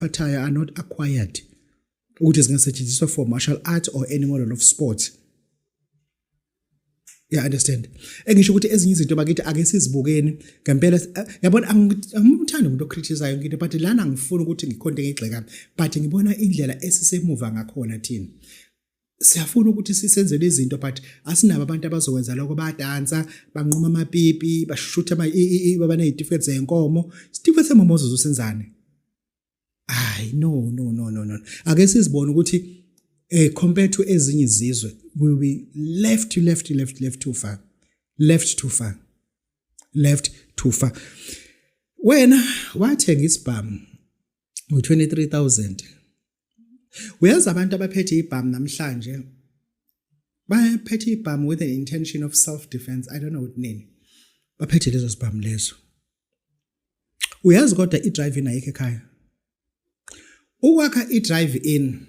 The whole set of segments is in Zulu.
attire are not acquired ukuthi zingasetshenziswa for martial art or any model of sport ya understand engisho ukuthi ezinye izinto bakithi ake sizibukeni ngempela eh, yabona angimthandi umuntu ocritisayo ngine but lana ngifuna ukuthi ngikhonde ngigxekami but ngibona indlela esisemuva ngakhona thina siyafuna ukuthi sisenzele izinto but asinabo abantu abazokwenza lokho badansa banquma amapipi bashutha ama babanezitifiketi zenkomo isitifiketi semomozo zosenzane hayi no no no no no ake sizibone ukuthi eh compared to ezinye izizwe we will be left to left to left left too far left too far left too far wena wathenga isibhamu ngo 23000 uyazi abantu abaphethe ibhamu namhlanje baphethe ibhamu with an intention of self defense i don't know ukuthi nini baphethe lezo zibhamu lezo uyazi kodwa i-drive in ayikho ekhaya ukwakha i-drive in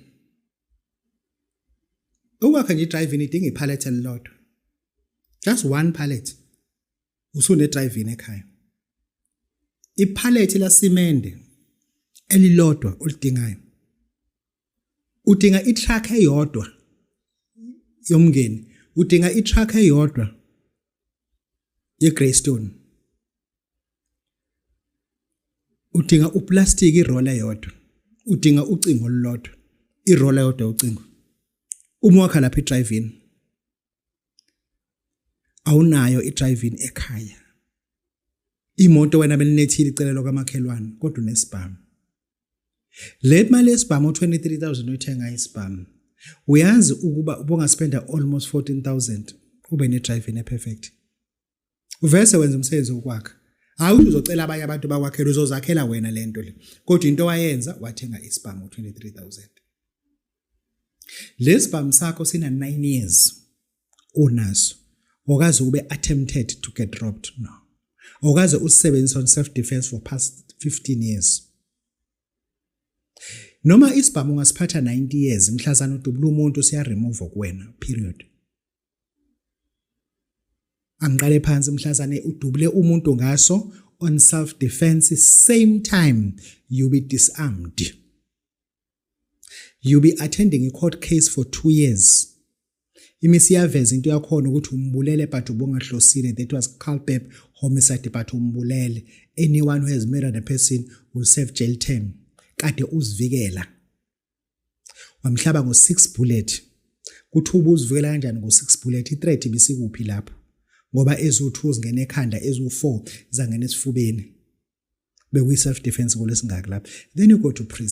ukwakha nje i-drive in idinga iphalethe elilodwa just one pallet usune drive in ekhaya iphalethi lasimende elilodwa olidingayo udinga itruck eyodwa yomngeni udinga itruck eyodwa yeGreystone udinga uplastic iroll eyodwa udinga ucingo olulodwa iroll eyodwa ucingo uma wakha lapha idrive in awunayo idriving ekhaya imoto wena belinethile icelelo kamakhelwane kodwa unesibhamu le mali yesibhamu 23000 oyithenga isibhamu uyazi ukuba ubongaspenda almost 14000 ube ne driving e perfect uvese wenza umsebenzi wokwakha hayi ukuthi uzocela abanye abantu bakwakhela uzozakhela wena le nto le kodwa into wayenza wathenga isibhamu ngo-23000 le sibhamu sakho sina-9 years unaso okaze ube attempted to get dropped no okaze usisebenzisa on self defense for past 15 years noma isibhamu ungasiphatha 90 years mhlazana udubula umuntu siya remove kuwena period angiqale phansi mhlazane udubule umuntu ngaso on self defense same time you be disarmed you be attending a court case for 2 years imisi yaveza into yakhona ukuthi umbulele but ubungahlosile that was culpable homicide but umbulele anyone who has murdered a person will serve jail term kade uzivikela wamhlaba ngo 6 bullet kuthi ubuzivikela kanjani ngo 6 bullet i threat ibisikuphi lapho ngoba ezu2 zingena ekhanda ezu4 zangena esifubeni bekuyi self defense kolesingaki lapho then you go to prison